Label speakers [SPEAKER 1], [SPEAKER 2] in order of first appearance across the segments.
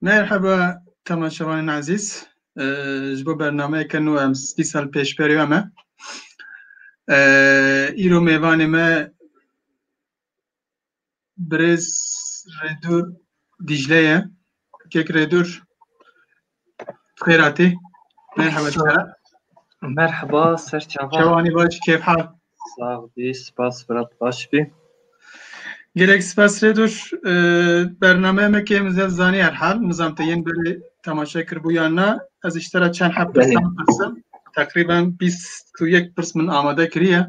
[SPEAKER 1] Merhaba temaşevanên ezîz. Ji bo bernameyeke nû em spî sal pêşberiya me. Îro mêvanê me birêz Rêdûr Dîcle ye. Kek Rêdûr Xêratê. Merhaba Şera. Merhaba Serçava. Şevanî baş kêf hal. Sağ bî, spas Fırat baş bî. Gerek spas rê dur. Bernameye me kêm zed zanî her hal. Mizam te yên berê temaşe kir bû yan na. Ez îştera çend heft pirsan pirsim. Teqrîben 21 pirs min amade kiriye.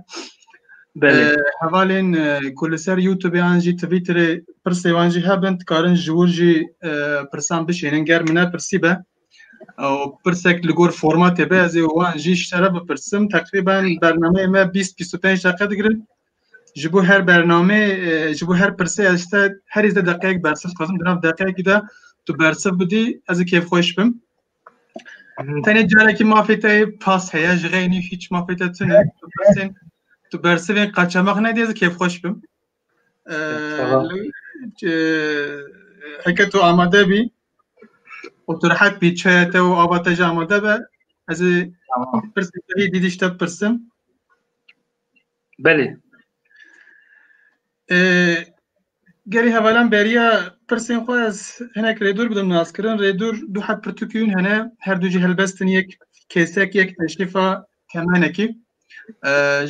[SPEAKER 1] Hevalên ku li ser YouTube an jî Twitterê pirsê wan jî hebin dikarin ji wir jî pirsan bişênin ger min ne pirsî be ew pirsek li gor formatê be ez ê wan jî ji te re bipirsim teqrîben bernameyê me bîst bîst û pênc deqe digirin ji bo her bernamê ji bo her pirsê ez ji te herî zêde deqeyek bersiv dixwazim di nav deqeyekî de tu bersiv bidî ez ê kêfxweş bim Tenê carekî mafê te pas heye ji xeynî hiç mafê te tune tu bersivên qaçemex nedê ez kêfxweş bim. Heke tu amade bî û tu rehet bî çaya te û ava te jî amade be ez ê pirsê te dîdîş te pirsim. Belê. Gelê hevalan beriya pirsên xwe ez hinek rêdûr bidim naskirin. Rêdûr du heb pirtûkîn hene her du jî helbestin yek kêsek yek eşîfa temenekî.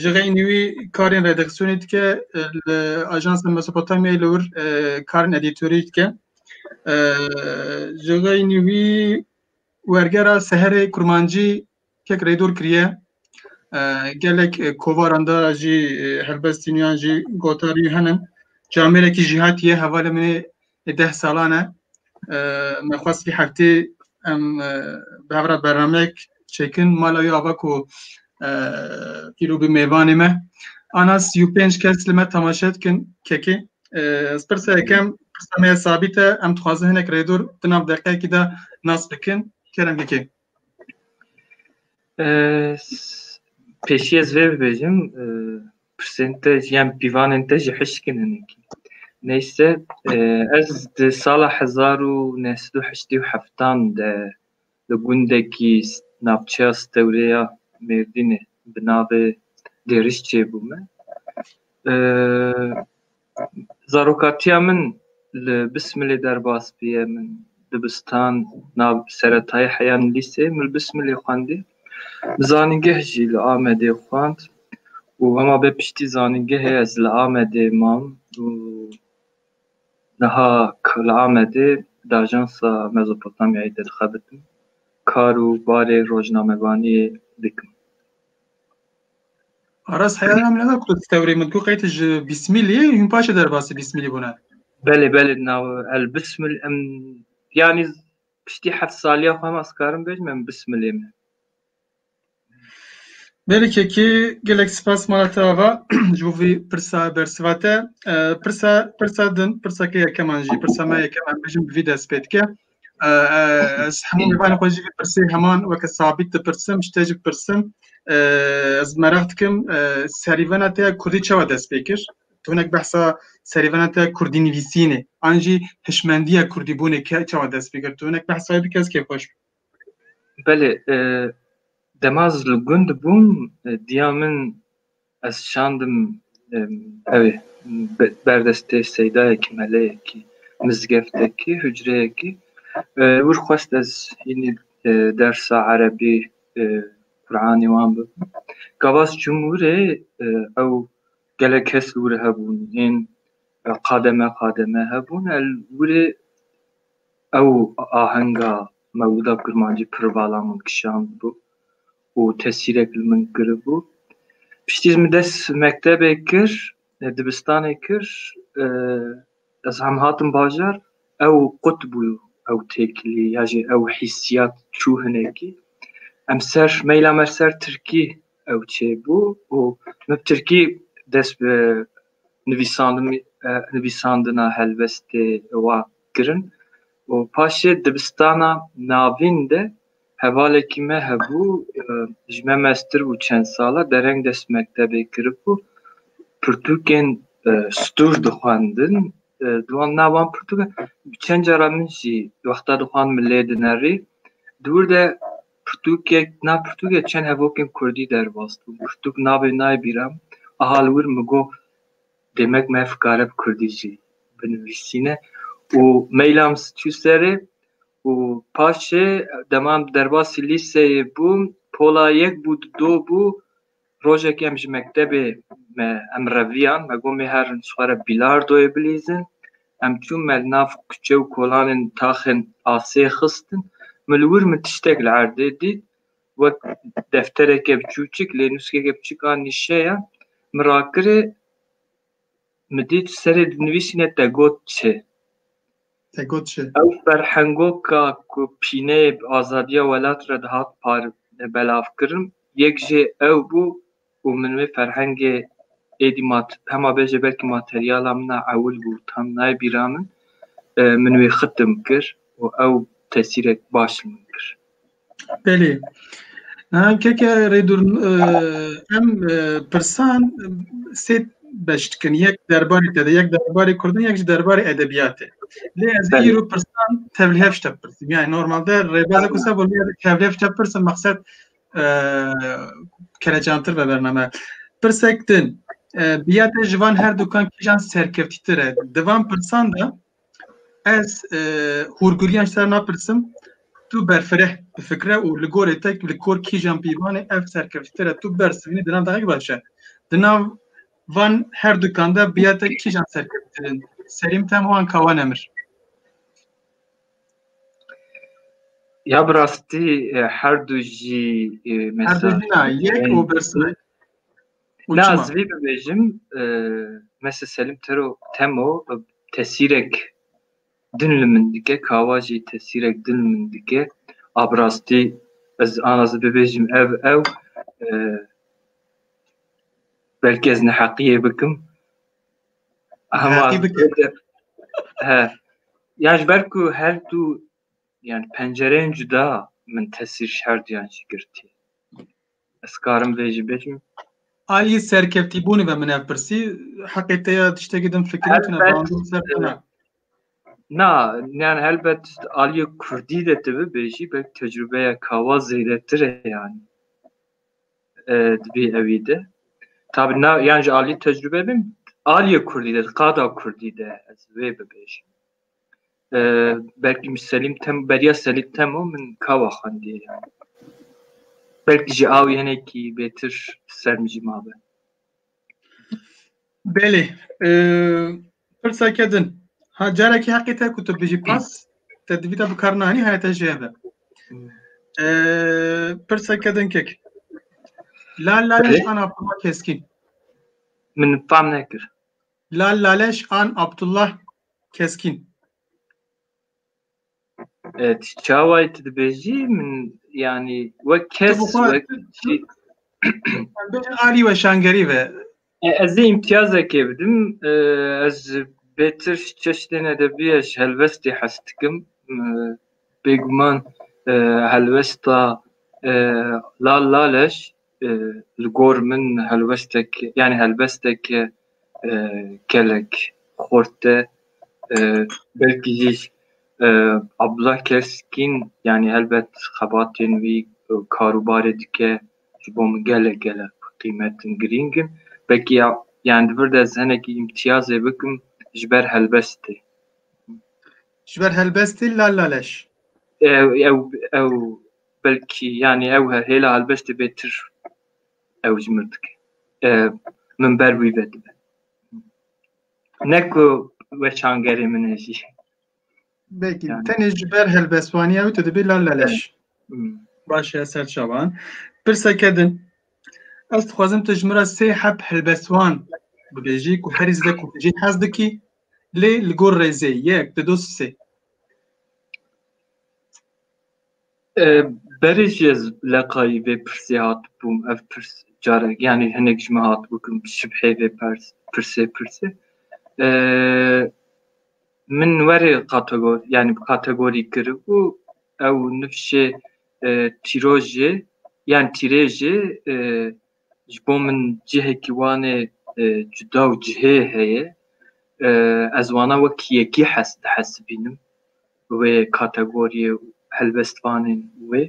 [SPEAKER 1] Ji xeynî wî karên redaksiyonê dike li Ajansa Mesopotamyayê li wir karên edîtorî dike. Ji xeynî wî wergera seherê kurmancî Kek rêdor kiriye. Gelek kovaran da jî helbestîniyan jî gotarî henin. Camêrekî jî hatiye hevalê min ê deh salan e. Me xwest vî heftê em bi hev re bernameyek çêkin mala wî ava ku îro bi mêvanê me. Ana sî û pênc kes li me temaşe dikin kekê. Ez pirsa yekem pirsa me ya sabît e. Em dixwazin hinek rêdor di nav deqeyekî de nas bikin. Kerem kekê. Pêşî ez vê bibêjim pirsên te jî yan pîvanên te jî hişkin hinekî. Neyse ez di sala hezar û neh sed û heştê û heftan de li gundekî navçeya Stewrê ya Mêrdînê bi navê Dêrişçê bûme. Zarokatiya min li Bismilê derbas bûye. Min dibistan nav seretayî heyan lîsê min li Bismilê xwendî. Li zanîngeh jî li Amedê xwend û hema bê piştî zanîngehê ez li Amedê mam û niha li Amedê di ajansa Mezopotamyayê de dixebitim. Kar û barê rojnamevaniyê dikim. Aras heyal em lena ku tewrê min ku qeyt ji bîsmîlî hûn paşê derbasî bîsmîlî bûne. Belê belê nav el bismil em yanî piştî heft saliya xwe hema skarim bêjim em bismilê min. Belê kekê gelek spas mala te ava ji bo vî pirsa bersiva te pirsa pirsa din pirsa ke yekeman jî pirsa me yekeman bêjim bi vî dest pê dike. ez hemû mêvanê xwe jî vê pirsê heman weke sabît dipirsim ji te jî bipirsim ez meraq dikim serîvena te ya kurdî çawa dest pê kir tonek behsa serîvena te kurdî nivîsînê an jî hişmendiya kurdîbûnê ke çawa dest pê kir tonek behsayê bike ez kê xweş Belê demaz li gund bûm diya min Ez şandim ew berdestê seydayekî, meleyekî, mizgeftekî, hucreyekî wir xwest ez hînî dersa erebî, Quranî wan bibim. Gavas çûm wirê ew gelek kes li wir hebûn hên qademe qademe hebûn el wirê ew ahenga mewlida kurmancî pir vala min kişand bû û tesîrek li min kiribû. Piştî ji min dest mektebê kir, dibistanê kir, ez hem hatim bajar, ew qut bû ew têkilî ya jî ew hîssiyat çû hinekî. Em ser meyla me ser tirkî ew çêbû û min bi tirkî dest bi nivîsandinê nivîsandina helbestê wan kirin û paşê dibistana navîn de Hevalekî me hebû ji me meztir bû çend sal e dereng dest mektebê kiribû pirtûkên stûr dixwendin di wan na wan pirtûkan bi çend cara min jî wexta dixwand min lê dinerî di wir de pirtûkek di nav pirtûkê çend hevokên kurdî derbas bûn pirtûk navê nayê bîran aha li wir min got demek me fikare bi kurdî jî binivîsîne û meyla min çû serê Û paşê dema em derbasî lîseyê bûm pola yek bû di do bû rojekê em ji mektebê me em reviyan me got mêherin xwe re bîlardoyê bilîzin em çûn me li nav kuçe û kolanên taxên asê xistin min li wir min tiştek li erdê dît wek deftereke biçûçik lê nûskeke biçûk a nîşeya min rakirê Mi dît serê dinivîsîne te got çi? Te got çi? Ew ferhengoka ku pîneyê bi azadiya welat re dihat par belavkirin yek jê ew bû û min wê ferhengê êdî ma hema bêje belkî materyala min a ewil bû tam nayê bîra min min wê xitim kir û ew tesîrek baş li min kir. Belê. Niha keke rêdur em pirsan sê beş dikin. Yek derbarê te de, yek derbarê Kurdin, yek ji derbarê edebiyatê. Lê ez Belê. îro pirsan tevlihevj te pirsim. Yani normalde rêbeze ku se bolê tevlihevj te pirsim maqsed e, kerecantir ve bername. Pirsek din. e, Biya te ji van her dukan kîjan serkevtîtir e. Di van pirsan de Ez hûrgiliyan ji te re napirsim, tu berfireh bi fikre û li gorê te li kor kîjan pîvanê ev serkevtî te re tu bersivînî di nav dehek baş e. Di nav van her dukan de bi ya te kîjan serkevtir in? Serîm tem wan kawa nemir. Ya bi rastî her du jî Her du jî na yek û bersivê. Na ez vê bibêjim mese selim tero temo tesîrek din li min dike kawa jî tesîrek din li min dike a bi rastî ez ana ez bibêjim ev ew belkî ez neheqiyê bikim hema he ya ji ber ku her du yani pencereyên cuda min tesîr şerdiyan jî girtî Ez karim vê jî bêjim. Aliyê serkevtîbûnê ve min ev pirsî, heqê te ya tiştekî din fikirî tune bandin ser tune. Na, yani elbet aliyê kurdî de tu bibêjî belk tecrübeya kawa zêdetir e yani. E, dibê ewî de. Tabi na, yani ji aliyê tecrübe bin, aliyê kurdî de, qada kurdî de ez vê bibêjim. belkî min Selîm Temo beriya Selîm Temo min kawa xwendiye yani. Belkî jî awî hinekî bêtir ser min jî mabe. Belê. Pirseke din. Ha carekî heqê te ku tu bijî pas te divî te bikar nanî haya te jê be. Pirseke din kek. La la Belê. ana fama keskîn. Min fam nekir. Lal Laleş an Abdullah Keskin? Evet, çaway tu dibêjî min yanî wek kes wek jî Bêjin alî we şangerî ve. E, ez ê îmtiyazekê bidim. E, ez ji bêtir çeştên edebiyê ji helwestê hes dikim. E, Bêguman e, helwesta e, Lal Laleş Li gor min helwestek yanî helbestek gelek xurt e. Belkî jî Abdullah Keskin yanî helbet xebatên wî karûbarê dike ji bo min gelek gelek bi qîmet in, girîng in. Belkî yanî di vir de ez hinekî îmtiyazê bikim ji ber helbestê. Ji ber helbestê lal laleş. Ew ew Belkî yanî ew her hêla helbestê bêtir ew jî mir dike. Min ber wî ve dibe. Ne ku weşangerê min e jî. Belkî tenê ji ber helbestvanî ew tu dibî lal laleş. Baş e ser çavan. Pirseke din. Ez dixwazim tu ji min re sê heb helbestvan bibêjî ku herî zêde ku jî hez dikî lê li gor rêzê yek di dos sê. Berê ji ez leqayî vê pirsê hatibûm ev pirs carek yanî hinek ji min hatibû kin şibhê vê pers pirsê pirsê min werê kategor yanî bi kategorî kiribû ew nifşê tîrojê yan tîrêjê ji bo min cihekî wanê cuda û cihê heye ez wana wek yekî hes dihesibînim bi wê kategoriyê û helbestvanên wê.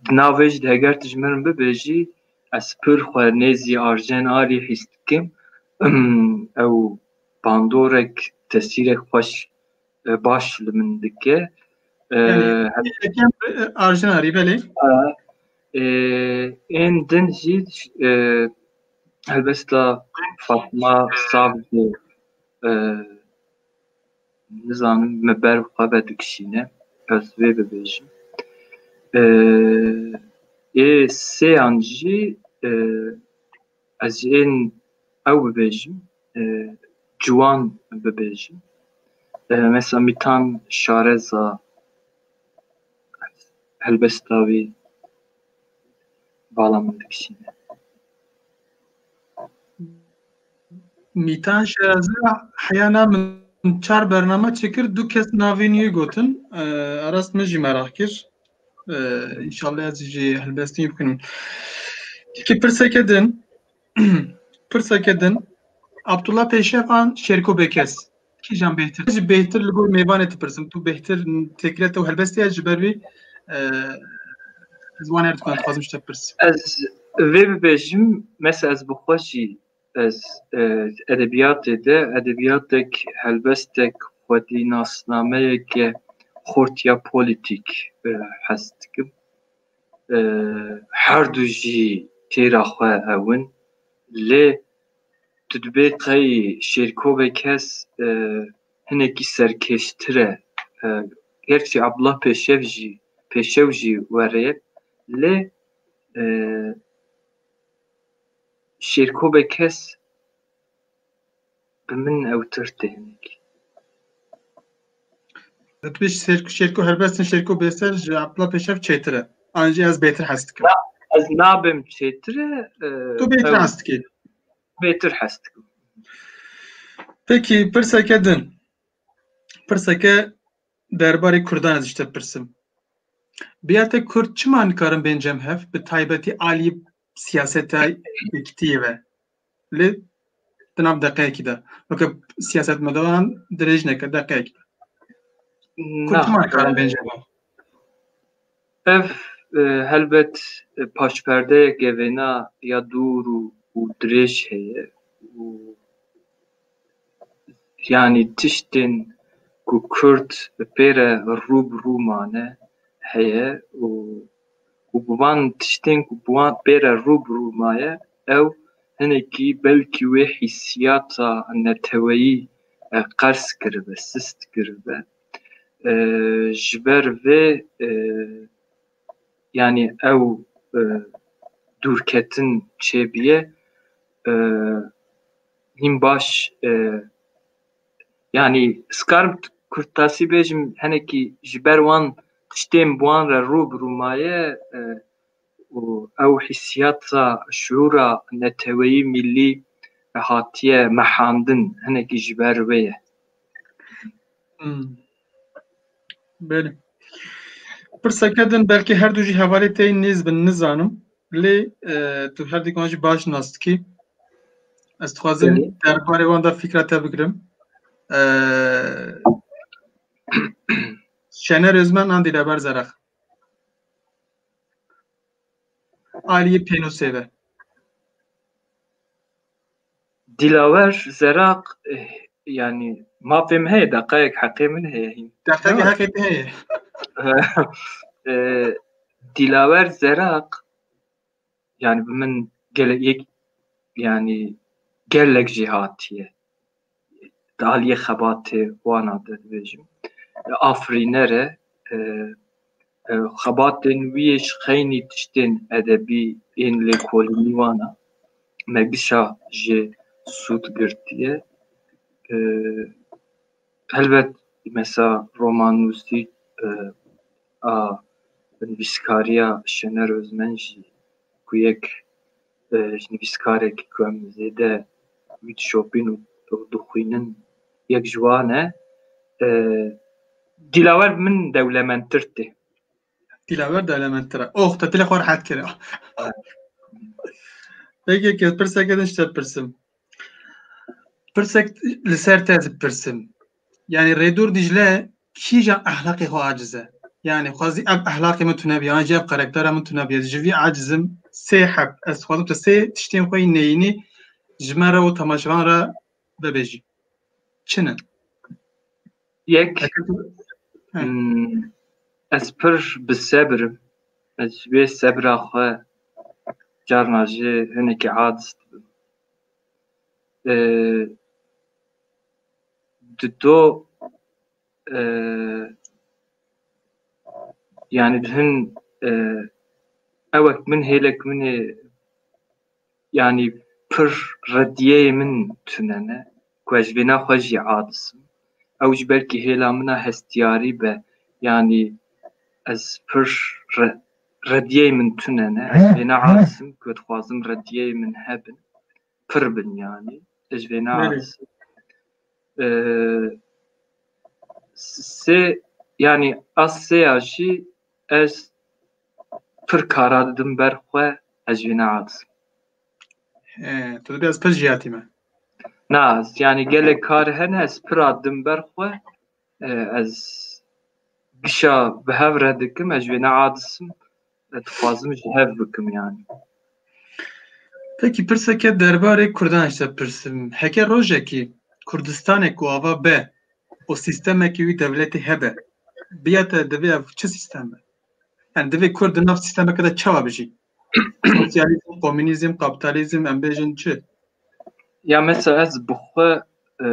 [SPEAKER 1] Di nav vê jî de heger tu ji min bibêjî ez pir xwe nêzî Arjen Arî hîs dikim. Ew bandorek, tesîrek xweş baş li min dike. Arjen Arî belê. Ên din jî helbesta Fatma Savcî Nizanim me ber bi xwe ve dikişîne ez vê bibêjim. Ê sêyan jî ez ji ên ew bibêjim ciwan bibêjim. Mesela mîtan şareza, helbesta wî. Bala min dikişîne. Mîtan Şerazî heyana min çar bername çêkir du kes navên wî gotin. Aras min jî merak kir. İnşallah ez jî helbestî bikin. Tikî pirseke din. Pirseke din, Abdullah Pêşevan Şêrko Bêkes kîjan bêhtir? Ji bêhtir li gor mêvanê dipirsim. Tu bêhtir têkile te û helbestê ye ji ber wî ez wan erdikun dixwazim ji te bipirs. Ez vê bibêjim mesela ez bi xwe jî ez edebiyatê de edebiyatek helbestek xwedî nasnameyeke xortiya polîtîk hez dikim. Her du jî têra xwe hev in. Lê tu dibê qey şêrkovê kes hinekî serkêştir e. Gerçî Abdullah Pêşev jî Pêşew jî were ye. Lê şêrkovê kes Bi min ewtir tê hinek. Dibêj şêrko şêrko helbestin şêrko bêser ji aqila pêşev çêtir e. An jî ez bêtir hez dikim. Ez nabim çêtir e. Tu bêtir hez dikî. Bêtir hez dikim. Pekî pirseke din. Pirseke derbarê Kurdan ez ji te pirsim. Biyate Kurd çima nikarin bên cem hev bi taybetî alî siyaseta yekitiyê ve. Lê di nav deqeyekî de weke siyasetmedaran dirêj neke deqeyekî de. Kurtman karin bêje bo. Ev e, helbet e, paşperdeyek evêna ya dûr û û dirêj heye û yanî tiştên ku Kurd bi pêre rû bi rû mane heye û ku bi van tiştên ku bi wan pê re rû bi rû maye ew hinekî belkî wê hîsiyata neteweyî qers kiribe, sist kiribe. Ji ber vê yanî ew dûrketin çêbûye hîn baş Yanî skarm kurd tasî bêjim henekî ji ber wan tiştên bi wan re rû bi rû maye û ew hîssiyata şiûra neteweyî mîllî hatiye mehandin henekî ji ber wê ye. Belê. Pirseke din belkî her du jî hevalê tê nêz bin nizanim. Lê e, tu her dîkan jî baş nas dikî. Ez dixwazim Belê. derbarê wan da fîkra te bigirim. E, Şener Özmen an dîleber zerax. Aliyê pênûsê ve. Dilawer Zeraq, Yanî mafê min heye, deqeyek heqê min heye hîn. Deqeyek heqê te heye. Dilawer Zeraq, yanî bi min gelek yek yanî gelek jî hatiye. di aliyê xebatê wan a de dibêjim afirîner e. Xebatên wî yê ji xeynî tiştên edebî ên lêkolînî wan a. Me bîsa jê sûd girtiye. Helbet mesa romanûsî a nivîskariya Şener Ozmen jî ku yek ji nivîskarekî ku em zêde wî dişopîn û dixwînin yek ji wan e. Dîlawer bi min dewlemendtir tê. Dîlawer dewlemendtir e. Oh, te dilê xwe rehet kir. Peki ke pirsek edin işte pirsim. Pirsek li ser te dipirsim. Yani Redur Dicle Kîja ehlaqê xwe aciz e? Yanî xwezî ev ehlaqê min tune bî yan jî ev karaktera min tune bî ez ji vî aciz im sê heb ez xwezim tu sê tiştên xwe yên neyînî ji me re û temaşevan re bibêjî. Çin in. Yek ez pir bi sebir im. Ez ji vê sebira xwe carna jî hinekî aciz dibim. di do yanî di hin ewek min hêlek min ê yanî pir redîyeyê min tune ne ku ez ji vêna xwe jî aciz im. Ew jî belkî hêla min a hestiyarî be yanî ez pir redîyeyê min tune ne. Ez ji vêna aciz im ku dixwazim redîyeyê min hebin. pir bin yani ez vê na se yani as se ya jî ez pir kara didim ber xwe ez vê na as tu dibê ez pir jiyatî me na yani gelek kar hene ez pir didim ber xwe Ez gişa bi hev re dikim, ez wê neadisim, ez dixwazim ji hev bikim yani. Peki pirseke derbarê Kurdan ji te pirsim. Heke rojekî Kurdistanek ku ava be û sîstemekî wî dewletê hebe, biya te divê ev çi sîstem be? Yani divê Kurd di nav sîstemeke de çawa bijî? Sosyalizm, komünizm, kapitalizm em bêjin çi? Ya mesela ez bi xwe e,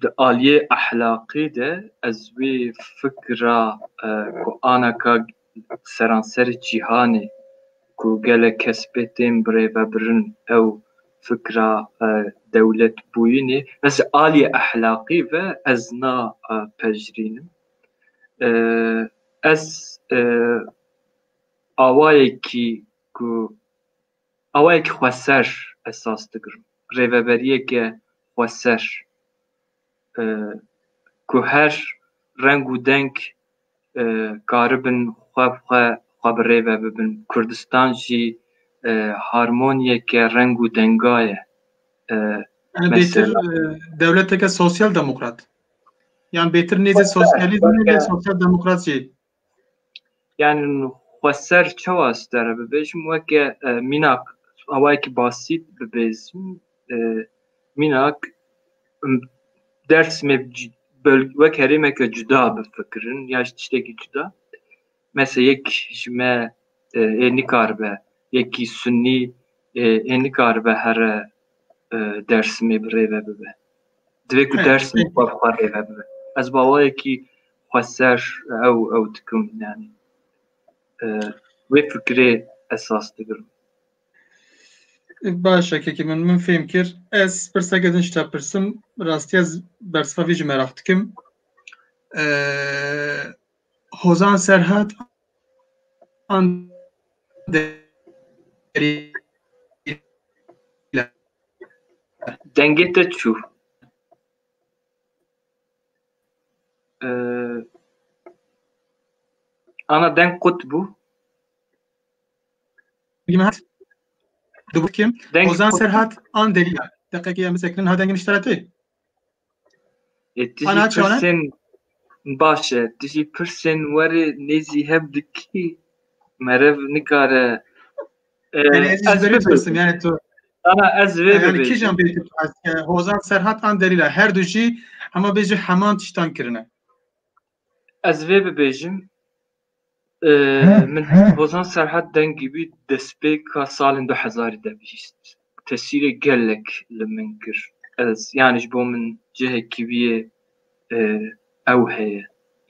[SPEAKER 1] di aliyê ehlaqê de ez wê fikra e, ku anaka seranserê cîhanê ku gelek kes pê tên birêvebirin ew fikra e, dewletbûyînê ez aliyê ehlaqî ve ez na e, pejirînim. Ez awayekî ku awayekî xweser esas digirim. Rêveberiyeke xweser ku her reng û deng karibin xwe bi xwe xwe bi rê ve bibin. Kurdistan jî harmoniyeke reng û denga ye. Dewleteke sosyal demokrat. Yan bêtir nêzî sosyalîzmê lê sosyal demokrat jî. Yan xwe ser çawa stere bibêjim weke mînak awayekî basît bibêjim mînak dersmê wek herêmeke cuda bifikirin ya ji tiştekî cuda. Mese yek ji me ê nikaribe, yekî sunnî ê nikaribe here Dêrsimê bi rêve bibe. Divê ku Dêrsimê xwe bi xwe rêve bibe. Ez bi awayekî xweser ew ew dikim yanî wê fikirê esas digirim. Baş e kekê min, min fêm kir. Ez pirseke din ji te pirsim, rastî ez bersiva vî jî meraq dikim. Hozan Serhat an Dengê te çû. Ee, ana deng qut bû. Limat. Dubur kim? Deng Hozan qut. Serhat an deriya. Deqekê em bisekinin ha dengê nişteratê. E, tu jî Ana çanan? pirsên baş e. Tu jî pirsên werê nêzî hev dikî. Merev nikare. E, Yani ez ez beri bibirim. yani tu. Ana ez vê Yani bibêjim. kijan beri tu az e, Hozan Serhat an derila her du jî hema bêjî heman tiştan kirine. Ez vê bibêjim. Min hişt hozan Serhat Dengî bî destpêka salên du hezarî de bihîst. Tesîrê gelek li min kir. Ez yanî ji bo min cihekî wî yê ew heye.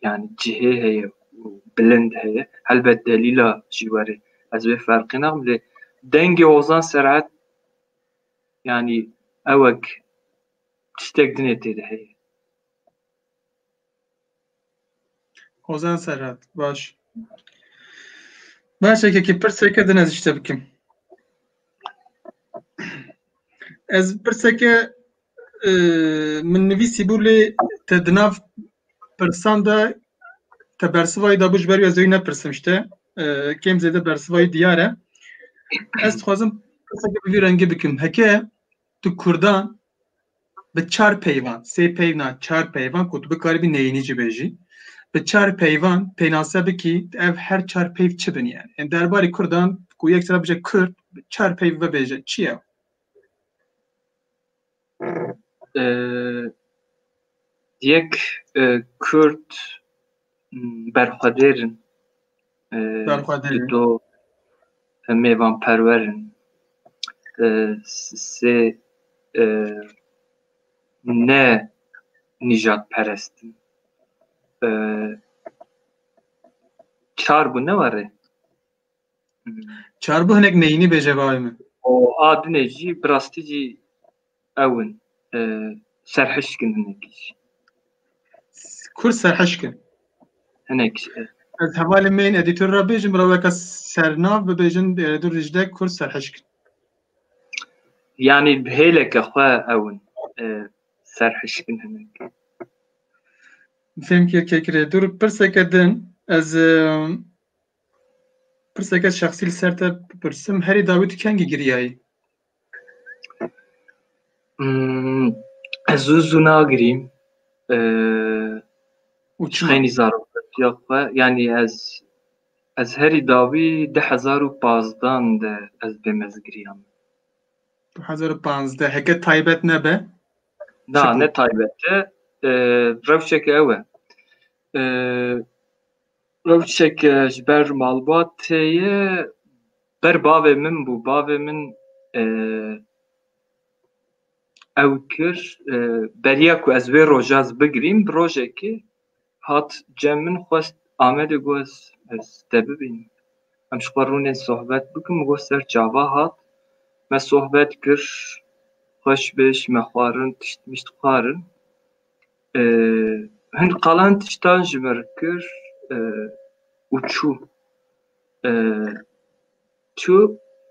[SPEAKER 1] Yanî cihê heye û bilind heye. Helbet delîla jî were. Ez wê ferqê nakim lê dengê hozan Serhat yanî ewek tiştek din ê tê de heye. Ozan Serhat, baş. Baş ekekî pirseke din ez işte bikim. Ez pirseke e, min nivîsî bû lê te di nav pirsan de te bersivayî dabû ji ber wî ez wî nepirsim işte. E, Kêm zêde bersivayî diyar e. Ez dixwazim pirseke bi vî rengî bikim. Heke Tu Kurdan bi çar peyvan, sê peyvna çar peyvan ku tu bikarî bî neyînî jî bêjî. Bi çar peyvan pênase bikî ev her çar peyv çi bin yani. Yani derbarê Kurdan ku yek sera bije Kurd bi çar peyv bibêje çi ye? Ee, Yek e, Kurd berxwedêr in. Berxwedêr in. Do mêvanperwer in. Sê ne nîjadperest in. Çar bû ne warê? Çar bû hinek neyînî bêje bavê min. A dinê jî bi rastî jî Ew in. Serhişk in hinek jî. Kurd serhişk in. Hinek jî. Ez hevalê me yên edîtor re bêjim bila weke sernav bibêjin Êredur Dîcle Kurd serhişk in. Yanî bi hêleke xwe ew in. Serhişk in hinek. Fêm kir kekirê. Dur pirseke din ez pirseke şexsî li ser te bipirsim. Herî dawî tu kengî giriyayî? Ez zû zû nagirîm û çixênî zaroktiya xwe yanî ez ez herî dawî du hezar û pazdan de ez bê mezgiriya min. Du hezar û panzdeh heke taybet nebe? Na ne taybet e rewşeke ew e. Rewşek ji ber malbatê ye ber bavê min bû. Bavê min ew kir beriya ku ez wê roja ez bigirîm bi rojekê hat cem min xwest Amedê got ez ez te bibînim. Em ji xwe rûnê sohbet bikin min got ser çava hat me sohbet kir xweş be ji me xwarin tişt mişt xwarin. Hin qalan tiştan ji ber kir û çû. Çû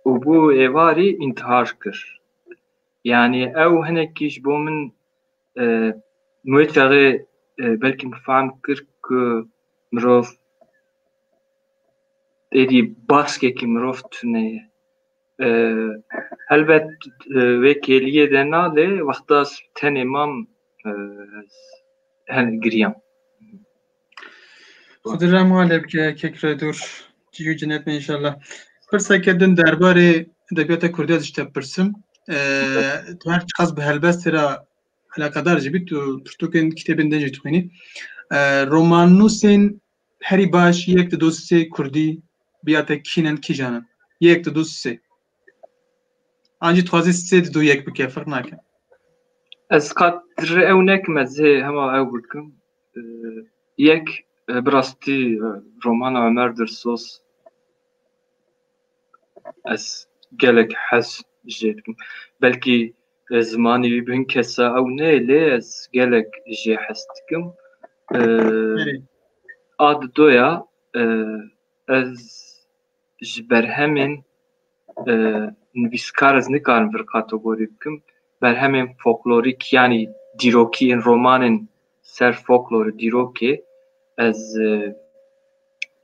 [SPEAKER 1] û bo êvarî întihar kir. Yanî ew hinekî ji bo min wê çaxê belkî min fehm kir ku mirov êdî baskekî mirov tune ye. Helbet vê kêliyê de na lê wexta tenê mam hen giriyam. Xudi rem halê bike kekre dur ciyû cinet me inşallah. Pirseke din derbarê edebiyata Kurdî ez ji te pirsim. Tu her çiqas bi helbestê re alaqedar jî bî tu pirtûkên kitêbên din jî dixwînî. Romannûsên Herî baş yek di du sê kurdî biya te kîn in kîjan in. Yek di du sê. An jî dixwazî sê di du yek bike firq nake. Ez qat re ew nekim ez hê hema ew bikim. Yek bi rastî romana Ömer Dirsos ez gelek hez jê dikim. Belkî Ez zimanî wî bi hin kesa ew ne lê ez gelek jê hes dikim. A di do ya ez ji berhemên nivîskar ez nikarim vir kategorî bikim. Berhemên foklorîk yanî dîrokî yên romanên ser foklorê dîrokê ez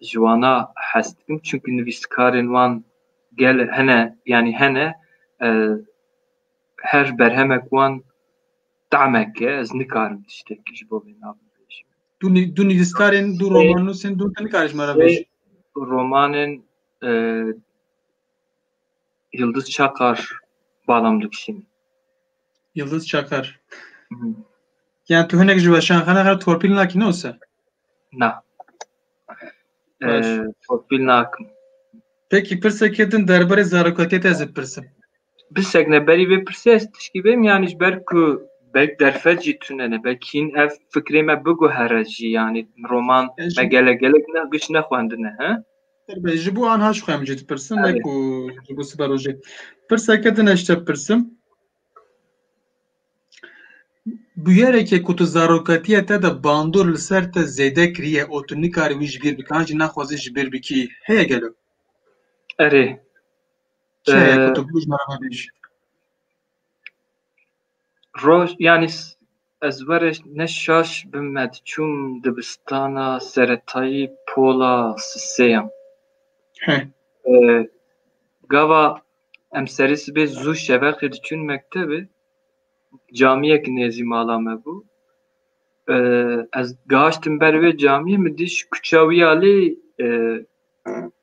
[SPEAKER 1] ji wana hes dikim. Çimkî nivîskarên wan gel hene yanî hene her berhemek wan tamek e, ez nikarim tiştekî ji bo vê na bibêjim. Du nî- du nivîskarên, du romannûsên du tu nikarî ji me re Vê bêjî. romanên e, Yildiz Çakar balam dikişînim. Yildiz Çakar. Yani tu hinek ji weşan xene xer torpîl nakî ne wisa? Na. Topil nakim. Peki pirsekê din derbarê zarokatiyê te ez ê pirsim. Birsek ne berî vê pirsê ez tişkî bêm yanî ji ber ku belk derfet jî tune ne belk hîn ev fikrê me biguhere jî yanî roman me gelek gelek ne giş nexwendine he. Ji bo anha ji xwe em jî dipirsim ne ku ji bo siberojê. Pirseke din ez ji te pirsim. Bûyerekê ku tu zarokatîya te de bandor li ser te zêde kiriye û tu nikarî wî ji bîr bikî an jî naxwazî ji bîr bikî heye gelo? Erê. Çi heye ku tu ji me re vebêjî? Roj yanî ez were ne şaş bim me diçûm dibistana seretayî pola siseyan. Gava Em serî sibê zû şeveqê diçûn mektebê, camiyek nêzî mala me bû. Ez gihiştim ber wê camiyê min dît ji kuça wî ya lê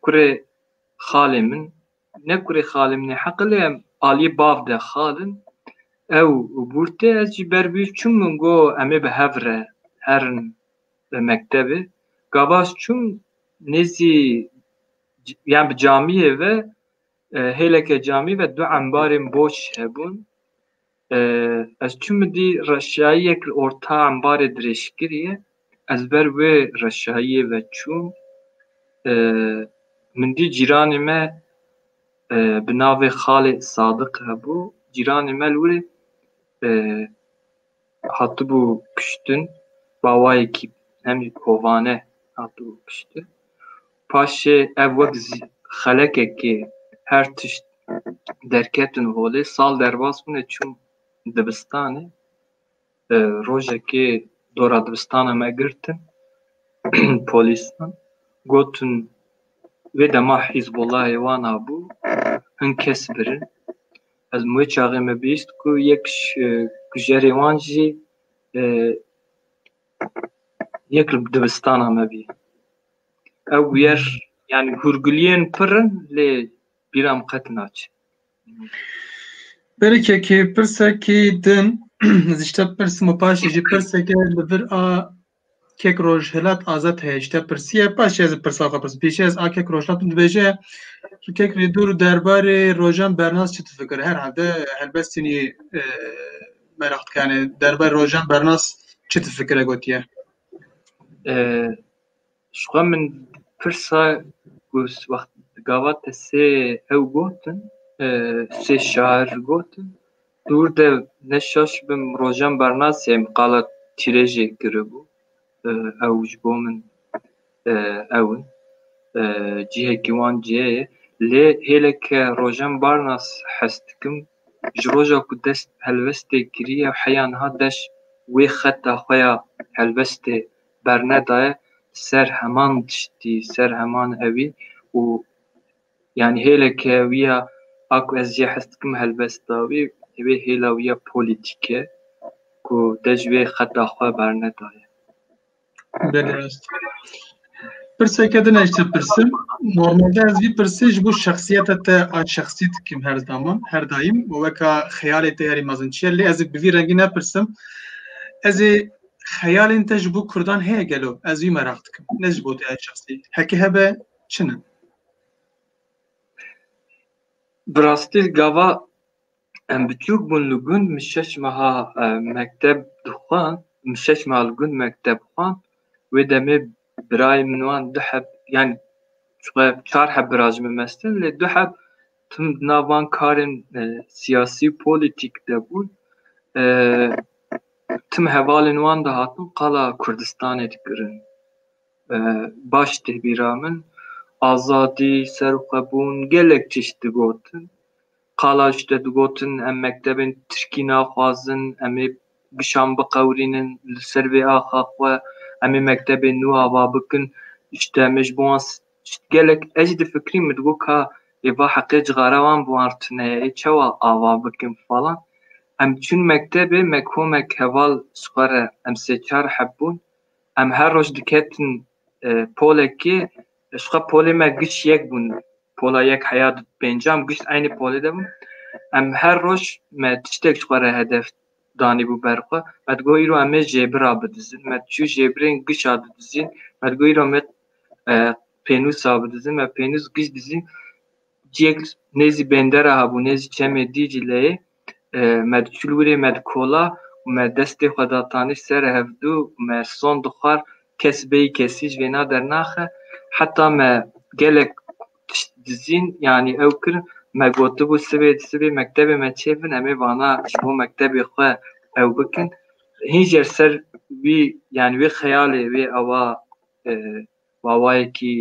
[SPEAKER 1] kurê xalê min ne kurê xalê min ê heqe lê em aliyê bav de xal in. Ew bûr tê ez jî ber wî çûm min got em ê bi hev re herin mektebê. Gavas çûm nêzî yan bi camiyê ve Hêleke camî ve du embarên boç hebûn. Ez çûm dî reşayiyek li orta embarê dirêjkirî ye. Ez ber wê reşayiyê ve çûm. Min dî cîranê me bi navê Xalê Sadiq hebû. Cîranê me li wir e Hatibû kuştin, bawayekî hem jî kovane hatibû kuştin. Paşê ev wek xelekekê her tişt derketin holê. Sal derbas bûne çûm dibistanê. Rojekê dora dibistana me girtin polîsan. Gotin vê dema Hîzbolahê wan abû, hin kes birin. Ez min wê çaxê me bîst ku yek ji kujerê wan jî yek li dibistana me bî. Ew bûyer yani hûrguliyên pir in lê bîra min qet naçe. Berikekê pirsekî din ez ji te pirsim û paşê jî pirseke li vir a Kek Rojhilat azad heye ji te pirsiye paşê ez ê pirsa xwe pirsim. Pêşî ez a kek Rojhilat min dibêje tu kek rê dûr derbarê rojan bernas çi difikire? Herhalde helbest tenê meraq dike yani derbarê rojan bernas çi difikire gotiye? Ji xwe min pirsa ku wext gava te sê hew gotin sê şar gotin Dûr de ne şaş bim rojan bernasî em qala tîrê jê kiribû. Ew ji bo min ew in. Cihekî wan cihê ye. Lê hêle ke rojan barnas hes dikim ji roja ku dest bi helwestê kiriye heya niha deş wê xeta xwe ya helwestê bernedaye li ser heman tiştî, li ser heman ewî û Yanî hêleke wî ya a ku ez jê hes dikim helbesta wî divê hêla wî ya polîtîk e ku te ji wê xeta xwe bernedaye. Belê rast. Pirseke din ez te pirsim. Normalde ez vî pirsê ji bo şexsiyeta te a şexsî dikim her zaman, her daîm û weka xeyalê te herî mezin çi ye lê ez ê bi vî rengî nepirsim. Ez ê xeyalên te ji bo kurdan heye gelo? Ez vî meraq dikim. Ne ji bo te ya şexsî. Heke hebe çin in. Bi rastî gava em biçûk bûn li gund min şeş meha e, mekteb dixwand, min şeş meha li gund mekteb xwand. Wê demê birayê min wan du heb yani çwe çar heb bira ji min mestin lê du heb tim di nav van karên e, siyasî û polîtîk de bûn. E, tim hevalên wan dihatin qala Kurdistanê dikirin. Baş tê bîra min azadî, serxwebûn gelek tişt digotin. Qala ji te digotin em mektebên tirkî naxwazin, em ê kişan biqewirînin li ser vê axa xwe, em ê mektebên nû ava bikin. Ji te me ji bo wan tişt gelek ez jî difikirîm min digot ka ê va heqê cixare wan bi wan re tune ye ê çawa ava bikin falan. Em çûn mektebê me komek heval ji xwe re em sê çar heb bûn Em her roj diketin polekê ji xwe polê me giş yek bûn pola yek heya di pêncam giş eynê polê de bûn em her roj me tiştek ji xwe re hedef danî bû ber xwe me digot îro em ê jêbira bidizin me diçû jêbirên gişa didizîn me digot îro me pênûsa bidizin me pênûs giş dizîn ciyek nêzî bêndera hebû nêzî çemê dî cileyê Me diçû li wîrê me dikola û me destê xwe datanî ser hevdu û me son dixwar kes bêyî kesî ji vêna dernaxe. Heta me gelek tişt dizîn yanî ew kirin me gotibû sibê di sibê mektebê me çê bin em ê vana ji bo mektebê xwe ew bikin. Hîn jî li ser wî yanî wê xeyalê wê awa Mawayekî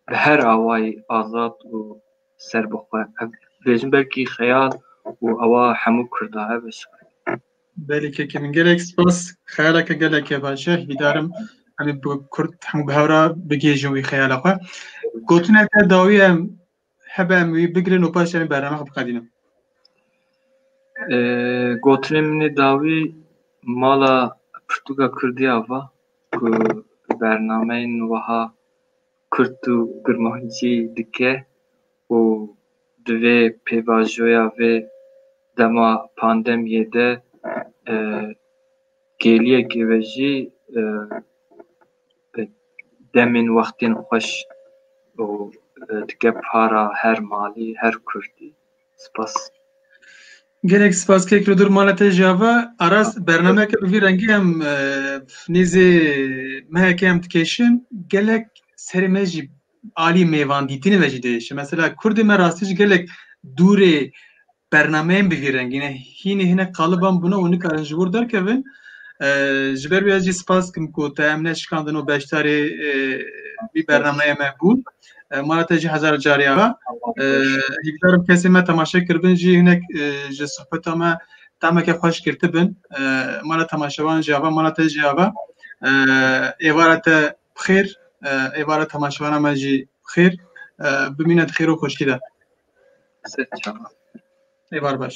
[SPEAKER 1] bi her awayî azad û serbixwe. Ev dibêjin belkî xeyal û ewa hemû Kurda ev e Sibrin. Belê keke min gelek spas xeyaleke geleke baş e hîvîdarim em ê bi Kurd hemû bi hev re bigihêjin wî xeyala xwe. Gotineke dawî em Hebe em wî bigirin û paşê em ê bernameya xwe bixebînin. Gotinên min ê dawî mala pirtûka kurdî ya va ku bernameyên wiha kurt û kurmancî dike û di vê pêvajoya vê dema pandemiyê de gêliyekê ve jî Demên wextên xweş û dike para her malî her kurdî. Spas. Gelek spas kek li dur mala te jî ava. Aras bernameyeke bi vî rengî em nêzê meheke em dikêşin gelek serê me jî Alî mêvan dîtinê ve jî diêşe. Mesela Kurdê me rastî ji gelek dûrê bernameyên bi vî rengî ne. Hînê hinek qaliban bûne û nikarin ji wir derkevin. Ji ber wî ez jî spas dikim ku te em neşikandin û beşdarê vî bernameyê me bûn. Mara te jî hezar carî ava. Hîvdarim kesên me temaşe kiribin jî hinek ji sohbeta me tameke xweş girtibin. Mara temaşevan jî ava, mara te jî ava. Êvara te Bixêr, êvara temaşevana me jî bixêr. Bimîne di xêr û xweşkî de. Êvar baş.